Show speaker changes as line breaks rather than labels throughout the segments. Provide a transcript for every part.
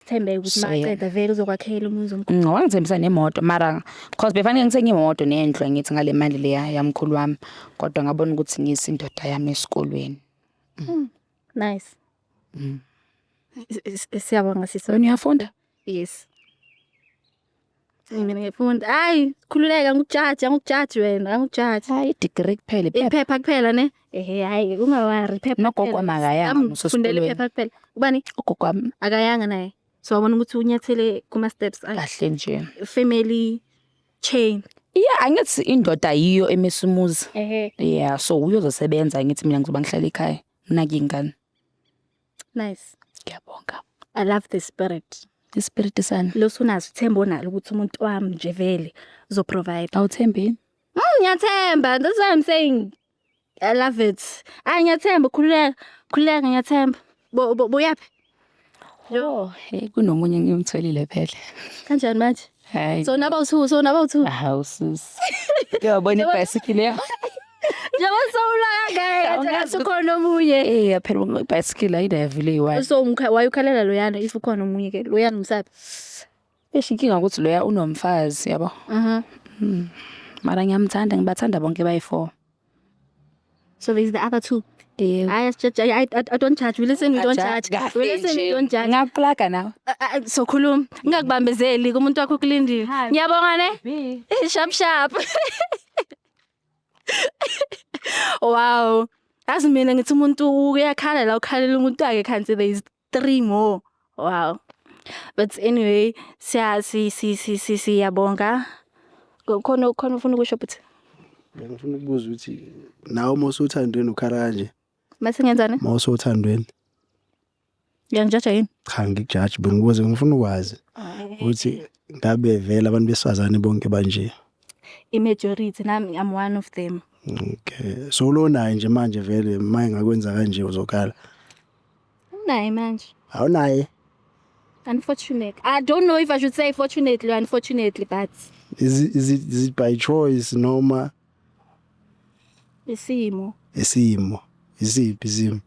Sithembe ukuthi So, yeah. maqeda vele uzokwakhela umuzi omkhulu. Ngicabanga wangithembisa nemoto
mara cause befanele ngithenge imoto nendlu angithi ngale mali leya yamkhulu wami kodwa ngabona ukuthi ngiyisa indoda yami esikolweni.
Nice. Mm. S- s- Siyabonga sisi. Wena uyafunda?
Yes.
Mina ngifunda. Hayi, khululeka ngikujaji, angikujaji wena, angikujaji. Hayi degree kuphela
iphepha. Iphepha kuphela ne?
Ehhe hayi ungawari iphepha. Nogogo makayanga
Ngifundela iphepha kuphela.
Ubani? Ugogo wami akayanga
naye.
So wabona ukuthi unyathele kuma steps akhe. Kahle nje.
Family
chain. Yeah, angithi
indoda yiyo emisa umuzi. Ehhe. Yeah, so
uyozosebenza
ngithi mina ngizoba ngihlala ekhaya. Nginake ingane.
Nice. Ngiyabonga.
I love the
spirit. Ispirit sani.
Losunazo ithemba onalo
ukuthi umuntu wami nje vele uzo provide. Awuthembeni?
Mm, ngiyathemba.
That's why I'm saying I love it. Ay ngiyathemba khululeka. Khululeka ngiyathemba. Bo bo- boyaphi?
Oh, hey kunomunye engimtholile phela. Kanjani manje?
Hai. So naba usu
so naba
usu. Ah usus.
Yo bone bicycle ya. Jaba
so ula gae. Jaba so kono muye. Eh ya phela bicycle
ayida yavile iwa. So umkha wayukhalela
loyana if ukhona omunye ke loyana umsabi. Eshi
inkinga ukuthi loya unomfazi yabo. Mhm. Mm. Mara ngiyamthanda ngibathanda bonke bayi4.
So there's the other two. Yebo. Hayi asijaji I, I, I don't judge. We listen we don't Ajaji judge. kahle We listen we nje. don't judge. Ngakuplaga nawe.
Ah, ah, So khuluma.
Ngingakubambezeli kumuntu wakho kulindile. Ngiyabonga ne? Bi. Eh, Sharp sharp. wow. Azi mina ngithi umuntu uyakhala la ukhalela umuntu wakhe kanti there is three more wow but anyway siya si si si si siyabonga khona khona ufuna ukusho but ngifuna
ukubuza ukuthi nawe uma usuthandweni ukhala kanje mase ngenzani uma
usuthandweni ngiyangijaja yini cha ngikujaji
bengibuze ngifuna ukwazi ukuthi ngabe vele abantu besifazane bonke banje i-majority
nami i'm one of them okay so
ulonayo nje manje vele uma engakwenza kanje uzokhala
Awunaye manje. Awunaye. Unfortunately. I don't know if I should say fortunately or unfortunately, but Is it, is it,
is it by choice noma
isimo. isimo?
Isiphi isimo?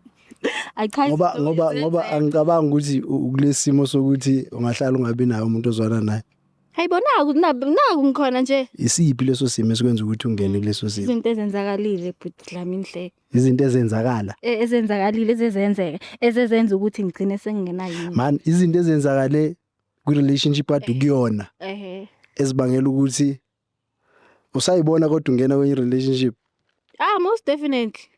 I
can't Ngoba ngoba ngoba
angicabangi ukuthi u- ukulesimo sokuthi ungahlala ungabi naye umuntu ozwana naye. Hayibona naku
naku ngikhona nje. Isiphi leso simo
esikwenza ukuthi ungene kuleso simo? Izinto ezenzakalile
bhuti Dlamini hle. izinto ezenzakala
e, ezenzakalile
ezezenzeka ezezenza ukuthi ngigcine sengingenayo yini man izinto
ezenzakale kwi relationship adu kuyona ehe ezibangela ukuthi
usayibona
kodwa ungena kwenye relationship
ah
most definitely